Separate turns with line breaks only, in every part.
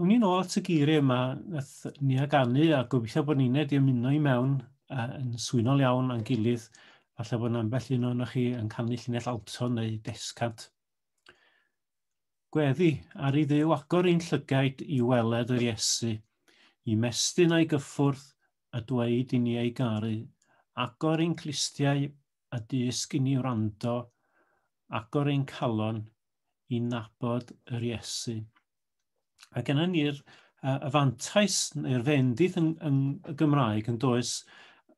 Wn i'n ôl at y geiriau yma, nath ni aganu a gobeithio bod ni'n wedi ymuno i mewn a, yn swynol iawn a'n gilydd. Falle bod ambell un o'n chi yn canu llinell alto neu descant. Gweddi, ar i ddew agor ein llygaid i weled yr Iesu, i mestyn a'i gyffwrdd a dweud i ni ei garu, agor ein clistiau a dysg i ni wrando, agor ein calon i nabod yr Iesu. A gen ni'r uh, y fantais neu'r fendith yn, yn y Gymraeg yn does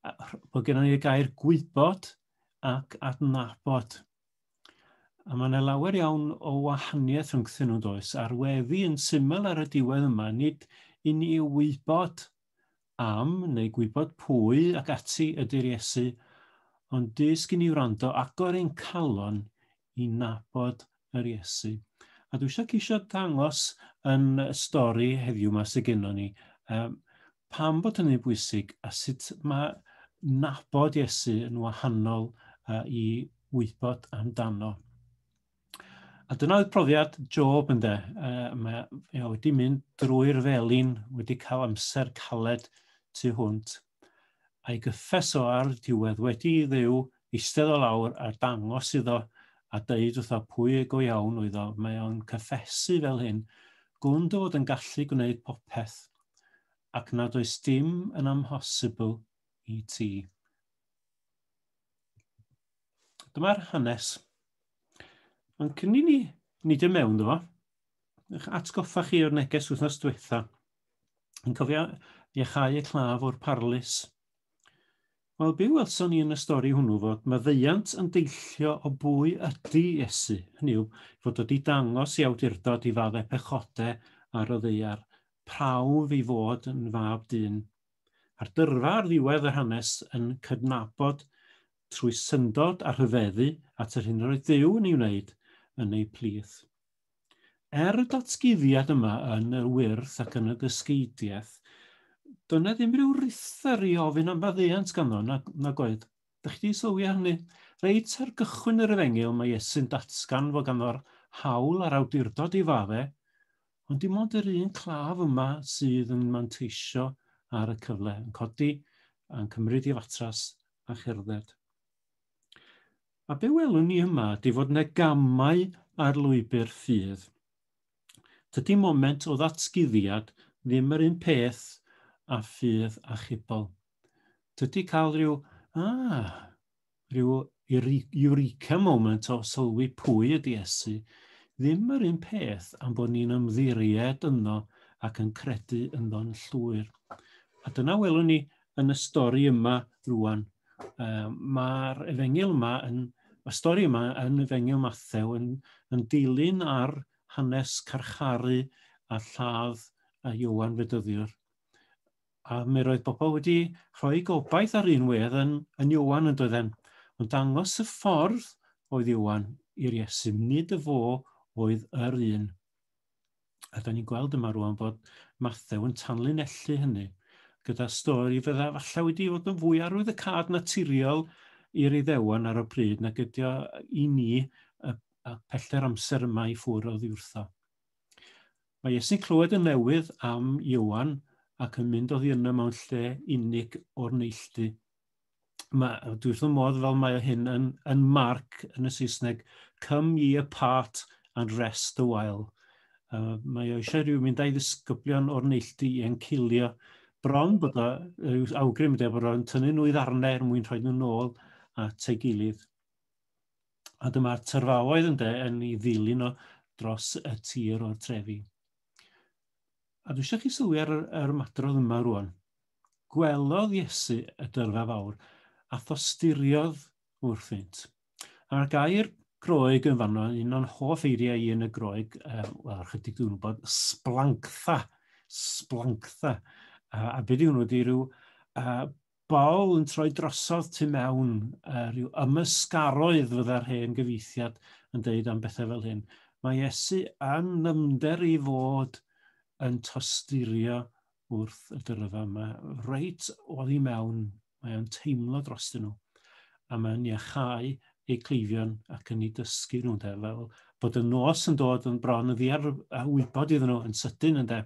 bod gen ni'r gair gwybod ac adnabod. A mae yna lawer iawn o wahaniaeth rhwngthyn nhw'n does, a'r weddi yn syml ar y diwedd yma, nid i ni wybod am neu gwybod pwy ac ati ydy'r Iesu, ond dysg i ni wrando agor ein calon i nabod yr Iesu. A dwi eisiau ceisio dangos yn y stori heddiw yma sydd gennym ni, um, pam bod hynny'n bwysig a sut mae nabod Iesu yn wahanol uh, i wybod amdano. A dyna oedd profiad Job ynde. Uh, mae e wedi mynd drwy'r felin, wedi cael amser caled tu hwnt. a'i gyffes o ar diwedd wedi i Dduw eistedd o lawr a dangos iddo a deud wrtho pwy y go iawn oedd o, mae o'n cyffesu fel hyn, gwn dy fod yn gallu gwneud popeth, ac nad oes dim yn amhosibl i ti. Dyma'r hanes. Mae'n cynnig ni nid y mewn ddo, eich atgoffa chi o'r neges wythnos diwetha, Yn cofio iechau y claf o'r parlys. Wel, byw welson ni yn y stori hwnnw fod maddeuant yn deillio o bwy ydy Iesu, hynny yw, fod wedi dangos i awdurdod i fadde pechode ar y ddeiar, prawf i fod yn fab dyn. A'r dyrfa ar ddiwedd yr hanes yn cydnabod trwy syndod a rhyfeddu at yr hyn roedd Dyw yn ei wneud yn ei plith. Er y datguddiad yma yn yr wyrth ac yn y dysgeidiaeth, doedd yna ddim rhyw rithr i ofyn am faddeuant ganddo, na, na oedd. Da chi wedi sylwi ar hynny? Reit ar gychwyn yr efengyl mae Iesu'n datgan fod ganddo'r hawl a'r awdurdod i fadde, ond dim ond yr un claf yma sydd yn manteisio ar y cyfle, yn codi a'n cymryd i fatras a cherdded. A be welwn ni yma ydy fod yna gamau ar lwybr ffydd. Dydy moment o ddatguddiad ddim yr un peth a ffydd achubol. Dydy cael rhyw, ah, rhyw eureka moment o sylwi pwy ydy Iesu ddim yr un peth am bod ni'n ymddiried yno ac yn credu yno'n llwyr. A dyna welwn ni yn y stori yma rwan. Uh, Mae'r efengil yma yn, y stori yma yn efengil Mathew yn, yn dilyn ar hanes carcharu a lladd a Iwan Fedyddiwr. A mi roedd bobl wedi rhoi gobaith ar un wedd yn, yn Iwan yn doedden. Mae'n dangos y ffordd oedd Iwan i'r Iesu, nid y fo oedd yr un. A da ni'n gweld yma rwan bod Mathew yn tanlinellu hynny gyda stori fydda falle wedi fod yn fwy arwydd y cad naturiol i'r iddewon ar y pryd nag ydi o i ni y, y pellter amser yma i ffwr o ddiwrtho. Mae Iesu'n clywed yn newydd am Iwan ac yn mynd oddi yno mewn lle unig o'r neilltu. mae, dwi wrth fy modd fel mae o hyn yn, yn marc yn y Saesneg, come ye apart and rest a while. Uh, mae o eisiau rhyw mynd a'i ddisgyblion o'r neilltu i encilio. Bron bod o, yw awgrym ydy bod o'n tynnu nhw i ddarnau er mwyn rhoi nhw nôl at ei gilydd. A dyma'r tyrfaoedd yn de yn ei ddilyn o dros y tir o'r trefi. A dwi eisiau chi sylwi ar yr, yr ymadrodd yma rwan. gwelodd Iesu y dyrfa fawr, a thosturiodd wrthynt. A'r gair groeg yn fanno, un o'n hoff eiriau i yn y groeg, um, wel, ychydig dwi'n gwybod, splanctha, splanctha. Uh, a beth yw hwnnw, di rhyw uh, bol yn troi drosodd tu mewn, uh, rhyw ymysgaroedd fydda'r hen gyfeithiad yn dweud am bethau fel hyn. Mae Iesu yn nymder i fod yn tosturio wrth y dyrfa yma, reit oddi mewn, mae o'n teimlo dros nhw, a mae'n iachau eu cleifion ac yn ei dysgu nhw, de, fel bod y nos yn dod yn bron yn ddiar a wybod iddyn nhw yn sydyn, ynde.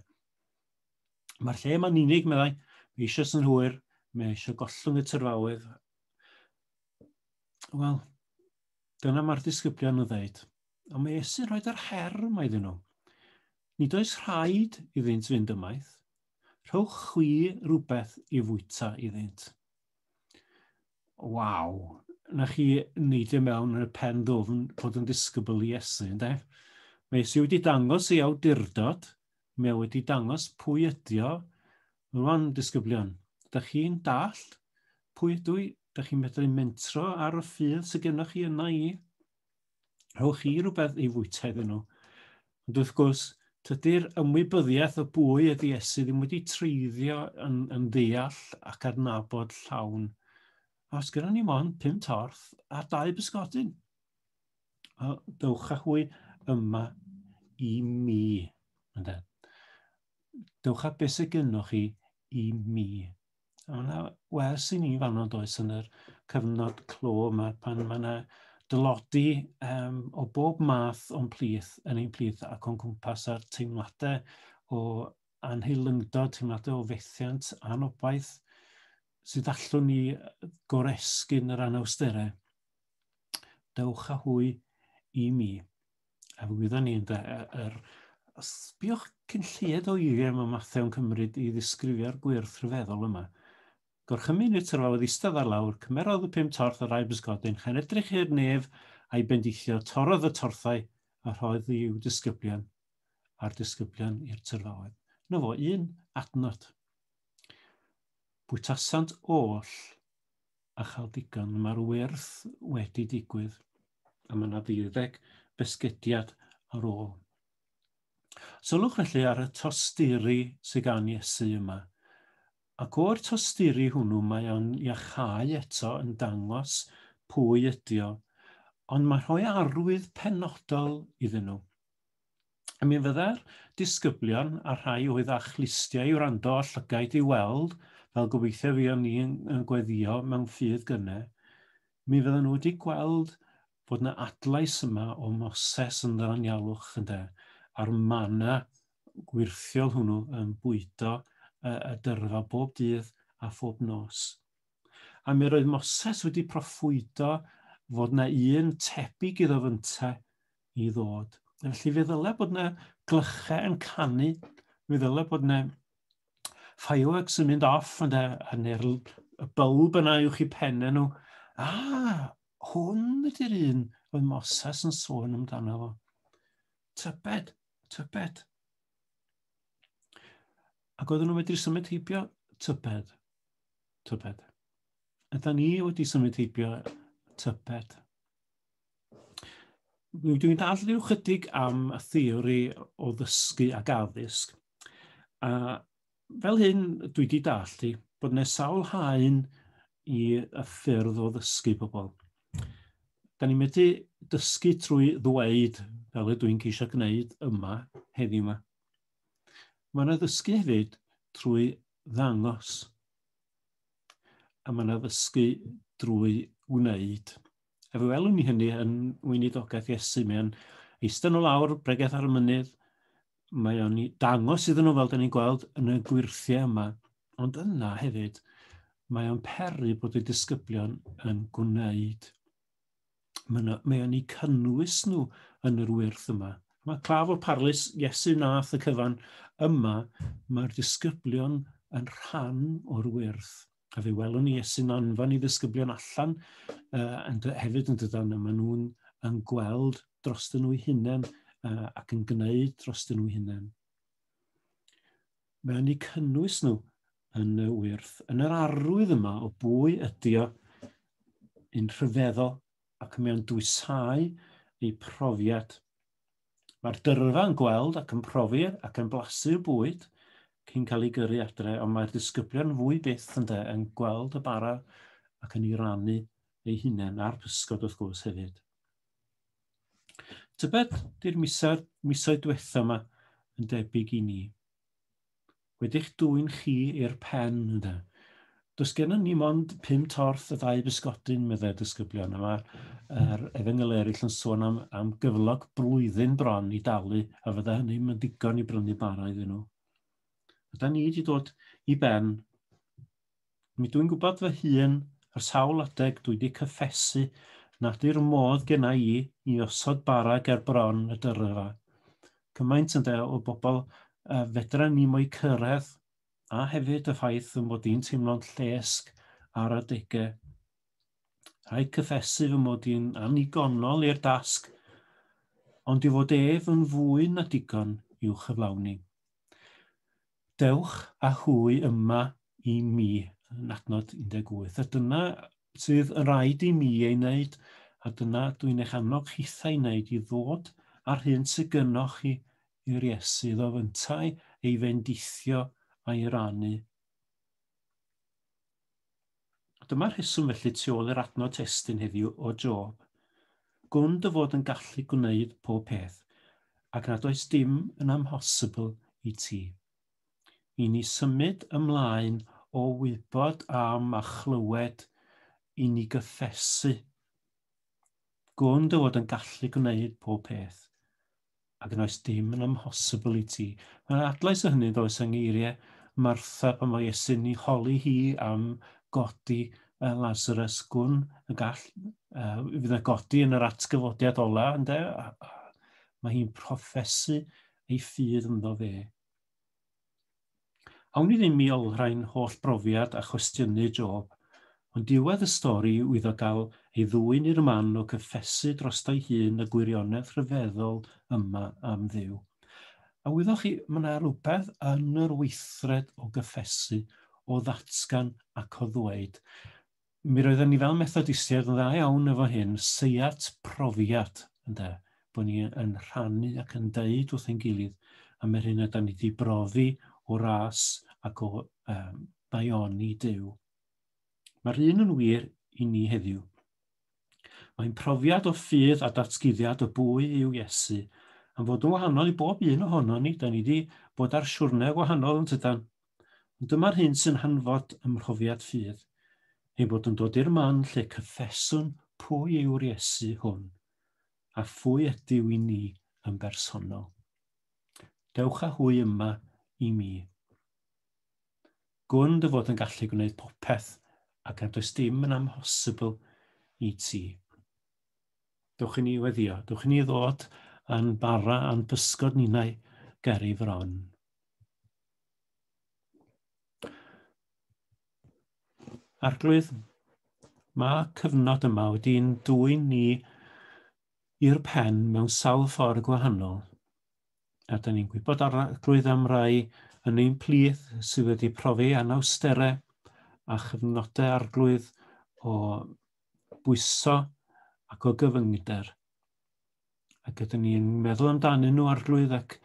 Mae'r lle yma'n unig, meddai, mae eisiau sy'n hwyr, mae eisiau gollwng y tyrfaoedd. Wel, dyna mae'r disgyblion yn ddeud. a mae Iesu'n rhoi yr her yma iddyn nhw. Nid oes rhaid iddynt fynd ymaith. Rhowch chwi rhywbeth i fwyta iddynt. Waw, na chi neidio mewn yn y pen ddofn bod yn disgybl i Iesu, ynddo? Mae Iesu wedi dangos ei awdurdod, mae wedi dangos pwy ydi o. Rwan, disgyblion, da chi'n dall pwy ydw i? Da chi'n medru mentro ar y ffydd sydd gennych chi yna i? Rhowch chi rhywbeth i fwyta iddyn nhw. Ond wrth gwrs, tydy'r ymwybyddiaeth o bwy ydy Iesu ddim wedi treiddio yn, yn ddeall ac adnabod llawn. A os gyda ni mon pum torth a dau bysgodyn, a dewch â hwy yma i mi. Ynde? Dewch â beth sydd gennych chi i mi. A mae yna wers i ni fanno does yn yr cyfnod clo yma pan mae yna dylodi um, o bob math o'n plith, yn ein plith ac o'n cwmpas a'r teimladau o anheilyngdod, teimladau o fethiant, anobaith, sydd allwn ni goresgyn yr anawsterau. Dewch â hwy i mi. A wyddwn ni, ynde, yr... Os biwch cyn lleied o eiriau mae Matthew yn cymryd i ddisgrifio'r gwyrth rhyfeddol yma. Gorchymyn i'r tyrfa oedd eistedd ar lawr, cymerodd y pum torth yr aib ysgodyn, chan edrych i'r nef a'i bendithio, torodd y torthau a rhoedd i'w disgyblion, a'r disgyblion i'r tyrfa oedd. Na fo, un adnod. Bwytasant oll a chael digon. Mae'r wyrth wedi digwydd. A mae yna ddeuddeg besgediad ar ôl. Sylwch felly ar y tosturi sydd gan Iesu yma. Ac o'r tosturi hwnnw mae o'n iachau eto yn dangos pwy ydi o, ond mae rhoi arwydd penodol iddyn nhw. A mi fydda'r disgyblion a rhai oedd â chlustiau i wrando a llygaid i weld, fel gobeithio fi o'n ni yn, yn gweddio mewn ffydd gyne, mi fydden nhw wedi gweld bod yna adlais yma o Moses yn ddyranialwch ynde, a'r mana gwirthiol hwnnw yn bwydo y, y dyrfa bob dydd a phob nos. A mi roedd Moses wedi proffwydo fod na un tebyg iddo fynta i ddod. Felly fe ddyle bod yna glychau yn canu, fe ddyle bod yna fireworks yn mynd off yn neu'r y bylb yna i'w chi penne nhw. A, hwn ydy'r un oedd Moses yn sôn amdano fo. Tybed, tybed. Ac oedden nhw wedi symud heibio tybed, tybed. Ydy ni wedi symud heibio tybed. Dwi'n dall rhyw chydig am y theori o ddysgu ac addysg. A fel hyn, dwi wedi dall i bod yna sawl haen i y ffyrdd o ddysgu pobl. Da ni'n medru dysgu trwy ddweud, fel y dwi'n ceisio gwneud yma, heddiw yma. Mae yna ddysgu hefyd trwy ddangos. A mae yna ddysgu drwy wneud. A fe welwn ni hynny yn weinidogaeth Iesu. Mae o'n eistedd nhw lawr, bregeth ar y mynydd. Mae o'n dangos iddyn nhw fel da ni'n gweld yn y gwirthiau yma. Ond yna hefyd, mae o'n peri bod y disgyblion yn gwneud. Mae o'n ei cynnwys nhw yn yr wyrth yma. Mae claf o parlus Iesu nath y cyfan yma, mae'r disgyblion yn rhan o'r wyrth. a fe welwn ni sy'n anfon i ddisgyblion allan uh, yn hefyd yn dydan, a maen nhw'n yn gweld dros dyn nhw'i hunain uh, ac yn gwneud dros dyn nhw'i hunain. Mae'n ei cynnwys nhw yn y wyrth, yn yr arwydd yma o bwy ydy o yn rhyfeddol ac mae'n dwysáu ei profiad Mae'r dyrfa yn gweld ac yn profi ac yn blasu y bwyd cyn cael ei gyrru adre, ond mae'r disgyblion fwy byth yn de yn gweld y bara ac yn ei rannu ei hunain a'r pysgod wrth gwrs hefyd. Tybed di'r misoedd, misoedd diwetha yma yn debyg i ni. Wedi'ch dwyn chi i'r pen, ynde. Does gennym ni mond pum torth a dau bysgodyn, meddai disgyblion, a mae'r er, efengyl eraill yn sôn am, am gyflog blwyddyn bron i dalu, a fydda hynny yn ddigon i brynu bara iddyn nhw. A da ni wedi dod i ben Mi dwi'n gwybod fy hun, ar sawl adeg dwi 'di cyffesu nad yw'r modd genna i i osod bara ger bron y dyrfa. Cymaint ynde o bobl y fedra ni mo'i cyrraedd, a hefyd y ffaith fy mod i'n teimlo'n llesg ar adegau. Rhaid cyffesu fy mod i'n annigonol i'r dasg, ond i fod ef yn fwy na digon i'w chyflawni. Dewch â hwy yma i mi, yn adnod 18. A dyna sydd yn rhaid i mi ei wneud, a dyna dwi'n eich annog hithau ei wneud, i ddod â'r hyn sydd gynnwch chi i'r Iesu, iddo fyntau ei fendithio a'i rannu. Dyma'r rheswm felly tu ôl i'r adnod testun heddiw o Job. Gwn dy fod yn gallu gwneud pob peth, ac nad oes dim yn amhosibl i ti. I ni symud ymlaen o wybod am a chlywed i ni gyffesu. Gwn dy fod yn gallu gwneud pob peth. Ac yn oes dim yn amhosibl i ti. Mae'n adlais o hynny ddoes yng ngeiriau Martha pan fo Iesu'n ni holi hi am godi uh, Lazarus gwn y gall uh, fydd yna godi yn yr atgyfodiad ola ynde? A, a, mae hi'n proffesu ei ffydd ynddo fe. Awn ni ddim i olrhain holl brofiad a chwestiynu Job, ond diwedd y stori yw iddo gael ei ddwyn i'r man o gyffesu drosto'i hun y gwirionedd rhyfeddol yma am Dduw. A wyddoch chi, mae yna rhywbeth yn yr weithred o gyffesu, o ddatgan ac o ddweud, mi roedden ni fel Methodistiaid yn dda iawn efo hyn, seiat profiad, ynde, bod ni yn rhannu ac yn deud wrth ein gilydd am yr hyn ydy ni wedi brofi o ras ac o um, daioni Dyw. Mae'r un yn wir i ni heddiw. Mae'n profiad o ffydd a datguddiad y bwy yw Iesu, am fod yn wahanol i bob un ohono ni, da ni wedi bod ar siwrne gwahanol yn tydan, Ond dyma'r hyn sy'n hanfod ym mhrofiad ffydd, ei bod yn dod i'r man lle cyffeswn pwy yw'r Iesu hwn, a phwy ydyw i ni yn bersonol. Dewch â hwy yma i mi. Gwn dy fod yn gallu gwneud popeth ac nad oes dim yn amhosibl i ti. Dewch i ni weddio, dewch i ni ddod a'n bara a'n pysgod ninau ger ei fron. Arglwydd, mae cyfnod yma wedi'n dwy'n ni i'r pen mewn sawl ffordd gwahanol. A dyn ni'n gwybod arglwydd am rai yn ein plith sydd wedi profi anawsterau a chyfnodau arglwydd o bwyso ac o gyfyngder. ac ydyn ni'n meddwl amdanyn nhw arglwydd ac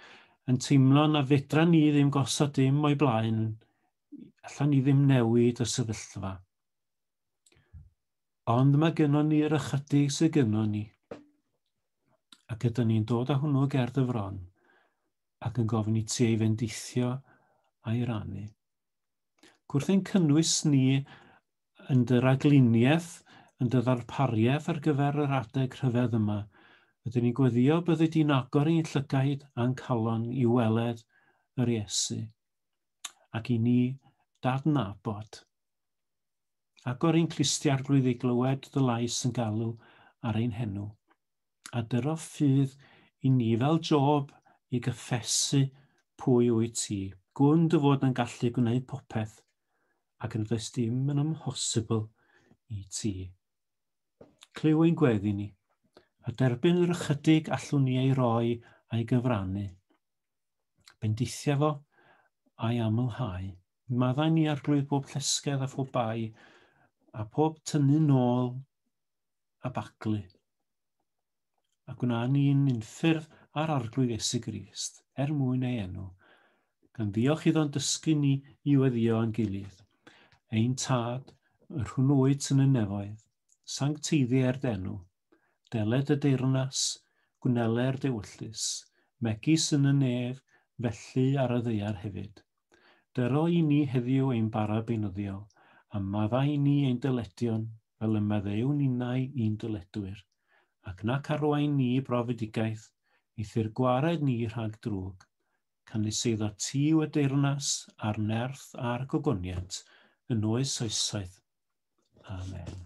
yn teimlo na fedra ni ddim gosod dim o'i blaen, allan ni ddim newid y sefyllfa. Ond mae gynnon ni yr ychydig sydd gynnon ni. Ac ydyn ni'n dod â hwnnw gerdd y fron ac yn gofyn i ti ei fendithio a'i rannu. Gwrth ein cynnwys ni yn dy ragluniaeth, yn dy ddarpariaeth ar gyfer yr adeg rhyfedd yma. Rydyn ni'n gweddio byddi di'n agor ein llygaid a'n calon i weled yr Iesu ac i ni dadnabod. Agor ein clustiarglwydd i glywed dy lais yn galw ar ein henw. a dyro ffydd i ni fel job i gyffesu pwy wyt ti. Gwn dy fod yn gallu gwneud popeth ac nad oes dim yn amhosibl i ti. Clyw ein gweddi ni, a derbyn yr ychydig allwn ni ei roi a'i gyfrannu. Bendithia fo a'i amlhau. Maddau ni arglwydd bob llesgedd a phob bai, a phob tynnu nôl a baglu. A gwna ni'n unffurf ar arglwydd Iesu Grist, er mwyn ei enw, gan ddiolch iddo'n dysgu ni i weddio a'n gilydd. Ein tad, yr hwn oed sy'n y nefoedd, sancteiddi er denw, deled y deyrnas, gwneler dewyllus, megis yn y nef, felly ar y ddeiar hefyd. Dy roi ni heddiw ein bara beunyddiol, a maddau ni ein dyledion, fel y maddewn ninnau i'n dyledwyr. Ac nac arwain ni i brofedigaeth, eithr gwared ni rhag drwg. Canys eiddo ti yw y deyrnas, a'r nerth, a'r gogoniant, yn oes oesoedd. Amen.